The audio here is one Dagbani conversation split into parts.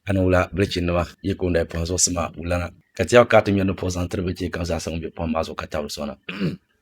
Ani wula bilichinnima yi ku n-daa pɔhim zuɣusima wulana, ka ti yɛg ka a ti ŋmɛri ni puɣ zaŋ tiri bilichi kam zaasa ŋun be pɔhim maa zuɣu ka tabiri sɔna?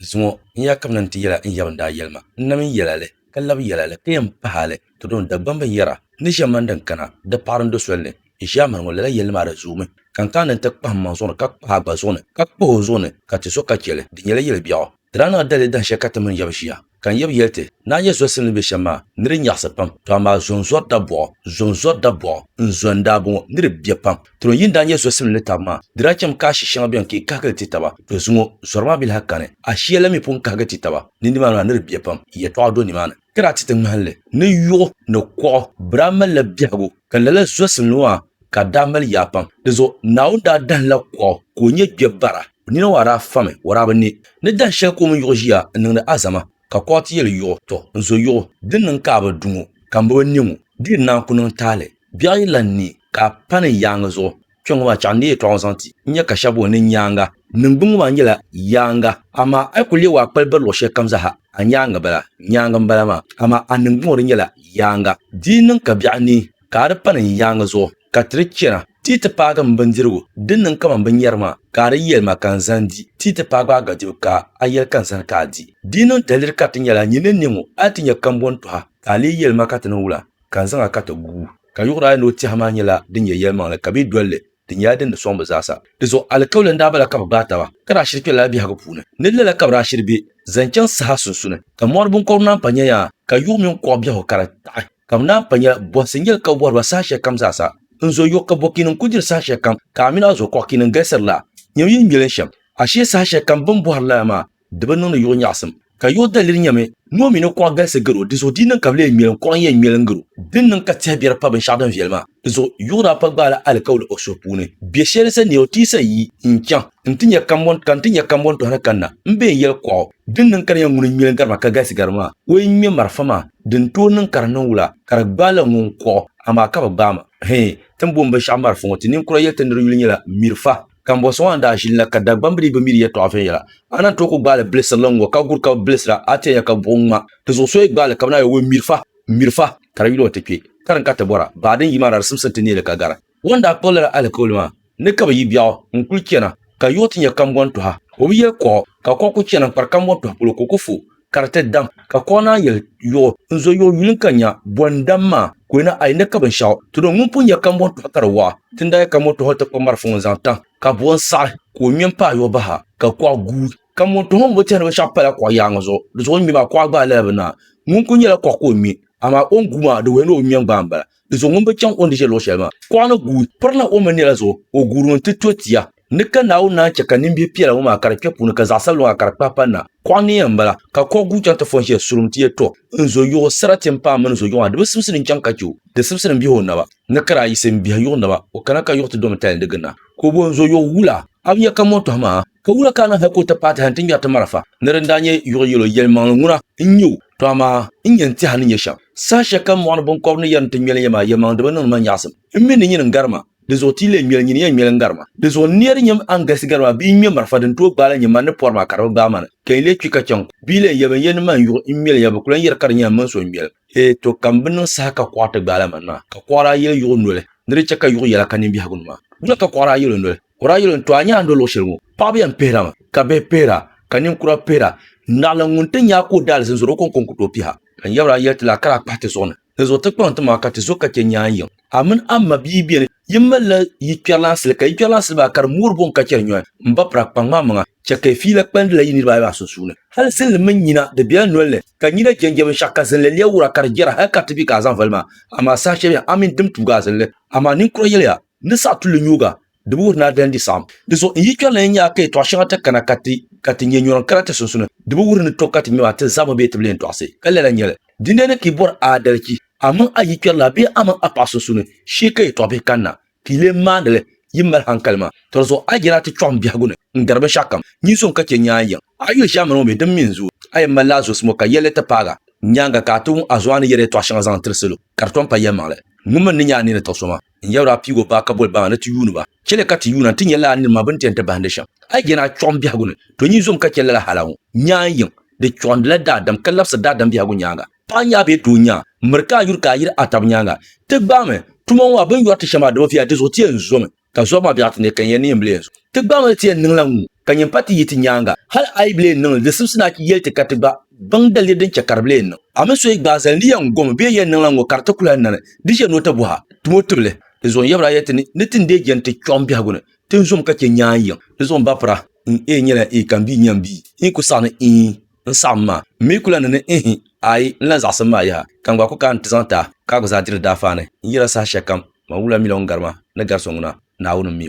Zuŋɔ n ya kabina nti yɛl a n yab ni daa yɛli ma. N nami yɛl a li, ka lab yɛl a li, ka yɛn pah a li. Tɔdoo n Dagbamba n yɛra, N ni ʒiɛm mani din kana, di paɣiri n do soli ni. N ʒiɛm mani ŋɔ, lala yɛlli maa di zoomi, ka n kana ni n ti kpahim maŋ zuɣu ni, ka kpah a gba zuɣu ni, ka kpah o zuɣu ni, ka ti so ka chɛ li. Di nyɛla yɛli biɛɣu. Di daa niŋla dali dahinshɛli ka ti mini Yɛbu ʒiya, ka n Yɛbu yɛli ti, Naa Yɛzuwa sili ni be shɛm maa, ni di nyaɣisi pam, to amaa zonzɔri da bɔɣɔ, zonzɔri da bɔɣɔ, n zo n daabɔŋɔ, ni di be pam. Tron yi ni daa Yɛzuwa sili ni tabi maa, di daa chɛmi ka ashi shɛŋa beni ka yi kahigili ti taba, dozuŋɔ, zɔri maa bi lahi kani, ashia la mi pun kahigi ti taba, ni nimaani maa ni di be pam, yɛtɔɣa do nimaani. Ka daa ti ti ŋmahinli ni yuɣu ni kuɣu, bɛ daa malila biɛhigu, ka lala zuwa sili ni maa ka daa mali yaa pam. Di zuɣu Naawuni daa dahimla kuɣu ka o nyɛ gbɛbara. Nina ŋɔ a daa fami waraabi ni ni dahin shɛli ka o mini yuɣu ʒiya n niŋdi azama ka kɔɣiti yɛli yuɣu, Tɔ! N zo yuɣu, din niŋ ka a bi du ŋɔ ka m bi bi ne ŋɔ, di yi naan ku niŋ taali biɛɣu yi lan ni ka a pani n yaaŋa zuɣu. Kpiɔŋ ŋɔ maa chɛɣu n deei yɛtɔɣa ŋɔ zaŋ ti n nya ka shɛba booni ni nyaaŋa. Niŋgbuŋ ŋɔ maa nyɛla yaaŋa, amaa a yi ku leeg o a kpali biri luɣ shɛli kam zaa ha, a nyaaŋa bala, nyaaŋa m-bala maa, amaa a niŋgbuŋ ŋɔ di nyɛla yaaŋa. Di yi niŋ ka biɛɣu ni. Ka a di pani n yaaŋa zuɣu, ka ti di chana, ti yi ti paagi m bindirigu din niŋ kaman binyɛri maa, ka a di yɛli ma ka n zani di, ti yi ti paagi a gadibu ka a yɛli ka n zani ka a di. Di yi niŋ daliri ka ti nya la, nyin ni niŋ o, a yi ti nya kambɔŋ tɔha, ka a lee yɛli ma ka ti niŋ wula, ka n zaŋ a ka ti gu. Ka yuɣuri ayi ni o tɛha maa nyɛla din nyɛ yɛlimaŋli, ka bɛ yi dol li, Di nyɛla din di sɔŋ bɛ zaasa. Di zuɣu alikauli n-daa bala ka bɛ gbaai taba, ka daa shiri kpe lala biɛhigu puuni. Ni lala ka bɛ daa shiri be zaŋ chaŋ saha sunsuni, ka mɔri binkɔbiri naan pa nya yaa, ka yuɣu mini kuɣ biɛhigu ka di taɣi. Ka bɛ naan pa nya bɔhisi n-yɛli ka bɛ bɔhiri ba saha shɛli kam zaasa. N zo yo ka bɔkiini n-kul diri saha shɛli kam, ka a min a zo kɔɣikiini n-galisiri la. Nyami yi n-nyeli n shɛm, ashee saha shɛli kam bɛ ni bɔhiri lala maa, Di bi niŋdi yuɣ nyaɣisim. Ka yuɣ daliri nyɛmi ni o mi ni kuɣa galisi garo, dinzuɣu di yi niŋ ka bɛ lee ŋmeli n kuɣa n-yɛn ŋmeli n-garo. Dini niŋ ka tɛhi biɛri pa binshɛɣu din viɛli maa? Dinzuɣu yuɣ daa pa gbaala alikauli o suhu puuni. Biɛ shɛli sa ni o ti sa yi, N chaŋ, n ti nya kambɔn, ka n ti nya kambɔn tɔhi ni kanna, m bee n yɛli kuɣu, Dini niŋ ka di nyɛ ŋuni n-ŋmeli n gari maa ka galisi gari maa? O yi ŋme marafa maa, di ni tooi niŋ ka di niŋ wula? Ka di gbaai la ŋun kuɣu, amaa ka bi gbaai ma. Hee, ti ni booni binshɛɣu marafa ŋɔ, ti ninkura yɛli ti ni di yuli nyɛla mirifa. Kambɔnsi ŋɔ ni daa ʒili na ka Dagbambili bi mi di yɛtɔɣa viɛnyɛla. A na tooi ku gbaai li bilisirili ŋ-ŋɔ ka guri ka bi bilisira, a ti yɛn nya ka buɣim ŋma. Di zuɣu so yi gbaai li ka bi na yɛli o, Ŋmiri fa! Ŋmiri fa! Ka di yuli o ti kpe. Karim ka ti bɔra, baa din yi maa daa di simsim ti neei li ka gari. Ŋɔ n-daa kpuɣi lala alikauli maa ni ka bɛ yi biɛɣu n-kul chana ka yiɣi ti nya kambɔntɔha. O bi yɛli kuɣu, ka kuɣu ku chana n-kpari kambɔntɔha polo ka o ku fu. kariti dam ka kɔɣa naan yɛli yuɣu n zo yuɣu yuli ka nya bɔ n dam maa ka o na a yi ni ka binshɛɣu ti do ŋun pun nya kambɔn tɔɣu ka di waɣa ti ni daa yɛ kambɔn tɔɣu ti kpa marafa ŋun zaŋ tam ka bɔ n saɣi ka o ŋmɛ m paai yuɣu baha ka kɔɣa guui kambɔn tɔɣu ŋun bi tɛhi ni binshɛɣu pala kɔɣa yaaŋa zuɣu di zuɣu ŋmɛ maa kɔɣa gbaai lala bi naai ŋun kuli nyɛla kɔɣa ka o ŋmɛ amaa o ni guui maa di wuhi ni o bi ŋmɛ gbaai m-bala Di zuɣu ŋun bi chaŋ o ni ʒe luɣ shɛli maa, kuɣa ni guui pirina o mini nira zuɣu, o guurimi nti to tia. Ni ka Naawuni naan chɛ ka nimbihi piɛla ŋɔ maa ka di kpe puuni ka zaɣ sabila ŋɔ ka di kpahi pa na, kuɣa ni yɛn m-bala. Ka kuɣ guui chaŋ ti fɔ n-ʒiya surum ti yɛli, Tɔ! N zo yuɣu, sarati m-paai mini n zo yuɣu maa, di bi simsi ni n-chaŋ ka chɛ o. Di simsi ni m-bihi o naba, ni ka daa yiɣisi m-bihi yuɣu naba, o kana ka yuɣu ti domi tali ni di giri na. Ka o boli, N zo yuɣu, wula? A bi nya ka mɔntɔha maa? Ka wula ka a niŋ hal ka o ti paati hal nti ŋmɛri ti marafa? Ni di ni daa nyɛ yuɣu yɛl o, yɛlimaŋli ŋuna n-nyɛ o, tɔ amaa n nya n-ti a ni nya shɛm. Saha shɛli kam mɔɣu ni biŋkɔbiri ni yɛrim ti ŋmɛli ya maa, yɛlimaŋlidiba niŋdi ma nyaɣisim. M mi ni nyini n-gari ma, dinzuɣu ti yi leei ŋmɛli nyini ya ŋmɛli n-gari ma. Dinzuɣu n ni yɛli di nyami a ni galisi gari ma bee n-ŋmɛ marafa din tooi gbaai la nyɛ man ni pɔri maa ka di bi gbaai ma ni ka yi leei kpi ka chaŋ kum? Bee lan ya bɛ ni yɛli ni man yuɣu m-mɛli ya bɛ ku lan yɛri ka di nyɛla m mini so m-mɛli ma? Hee tɔ, ka m bi niŋ saha ka kɔɣa ti gbaai la man maa? Ka kɔɣa daa yɛli yuɣu noli, ni di chɛ ka yuɣu yɛla ka ninbiɛhigu ni maa. Wula ka kɔɣa daa yɛl o noli? Kura yili n to a nyaando luɣu shɛli ŋɔ, paɣaba yɛn pihira mi, ka bihi pihira, ka ninkura pihira. Naɣilim ŋun ti nya ka o daali zin zɔri o kɔŋko n-ku tooi piha. Ka n yɛbira n-yɛli ti la, kara a kpahi ti zuɣu ni, ni zuɣu ti kpaŋ ti maŋa ka ti zo ka chɛ nyaan yiŋ. A mini a ma bia beni, yin malila yi kpɛrilansili, ka yi kpɛrilansili maa kari moori buɣim ka chɛri nyɔhi. M ba pira, kpaŋm a maŋa, chɛ ka yi fiila kpalindila yi niriba ayi maa sunsuuni. Hali zinli mini nyina, di bela noli ni, ka nyina jɛnjɛ binshɛɣu, ka zinli lɛbigura ka di jɛra hal ka ti bi ka a zaŋ vali ma. Amaa saha shɛli beni, a mini dimtuuga a zinli. Amaa ninkura yɛliya, Ni saɣi tulli nyuuga, di bi wuhi ni a daa n-di saɣim. Di zuɣu n yi kpɛri la yi nyaai ka yɛtɔɣ shɛŋa ti kana ka ti ka ti nyɛ nyɔrim kana ti sunsuni, di bi wuhi ni tɔ ka ti ŋmɛba ti zabiri bee ti bi lee tɔɣisi. Ka lala n-nyɛ li, dindina ni ka yi bɔri aadalichi, a mini a yikpɛrilana bee a mini a paɣa sunsuni, shee ka yɛtɔɣ bihi kanna, ka yi lee maani li yi ni mali haŋkali maa. Tɔ di zuɣu a yi je ni a ti kpiɔɣim biɛhigu ni n-gari binshɛɣukam, nyin so n-ka chɛ nyaan yiŋ. A yuli ʒiɛmani ŋɔ mi, di mi n-zooi. A yɛn mali la a zuɣusimbu ka yɛli li ti paagi a nyaaŋa ka a ti wuŋ a zuɣu a ni yɛri yɛtɔɣ shɛŋa zaŋ tiri salo, ka di tom pa yɛlimaŋli. Ŋun mi ni nya a ni ni tiɣi so maa. N yɛbiri a piig o baa ka boli baŋa ni ti yuuni ba. Chɛli ka ti yuuna nti nya lala nir ma bɛ ni ti yɛn ti bahindi shɛm. A yi jɛna a chuɣim biɛhigu ni, to nyin zom ka chɛ lala hal a ŋu. Nyaŋ yiŋ, di chuɣindila daadam ka labisir daadam biɛhigu nyaaŋa. Paɣ nyaa bee tooi nyaa, miri ka a yuri ka a yiri a tab nyaaŋa. Ti gbaami, tuma ŋɔ maa, bɛ ni yɔri ti shɛm maa di bi viya, di zuɣu ti yɛn zomi ka zɔbu maa biɛɣiti ni ka n yɛn ni yɛn bi leei zuɣu. Ti gbaami ni ti yɛn niŋla ŋu. ka nyin pa ti yi ti nyaaŋa. Hal a yi bi lee niŋ li, di simsi ni a yɛli ti ka ti gba baŋ daliri din chɛ ka di bi lee niŋ. A mi so yi gbaai zali ni yɛn gom bee yɛn niŋla ŋ-ŋɔ ka di ti kul a nani, di ʒiɛ ni o ti bɔh a, tim o tibili. Di zuɣu n yɛbir a yɛli ti ni, ni ti ni deei jɛndi ti kpiɔŋ biɛhigu ni, ti ni zom ka chɛ nyaan yiŋ. Di zuɣu m ba pira, n eei nyɛla ee ka m bii nyam bii. N yi ku saɣi ni iin, n saɣim maa. M mi ku la ni ni ihi, aai, n lan zaɣisim maa yaha, ka n gba ku kaai n ti zaŋ ti a, ka a gba zaa diri di daafaa ni. N yɛl a sahashɛlikam, man wula mi la ŋun gari ma ni gari so ŋuna, Naawuni m-mi o.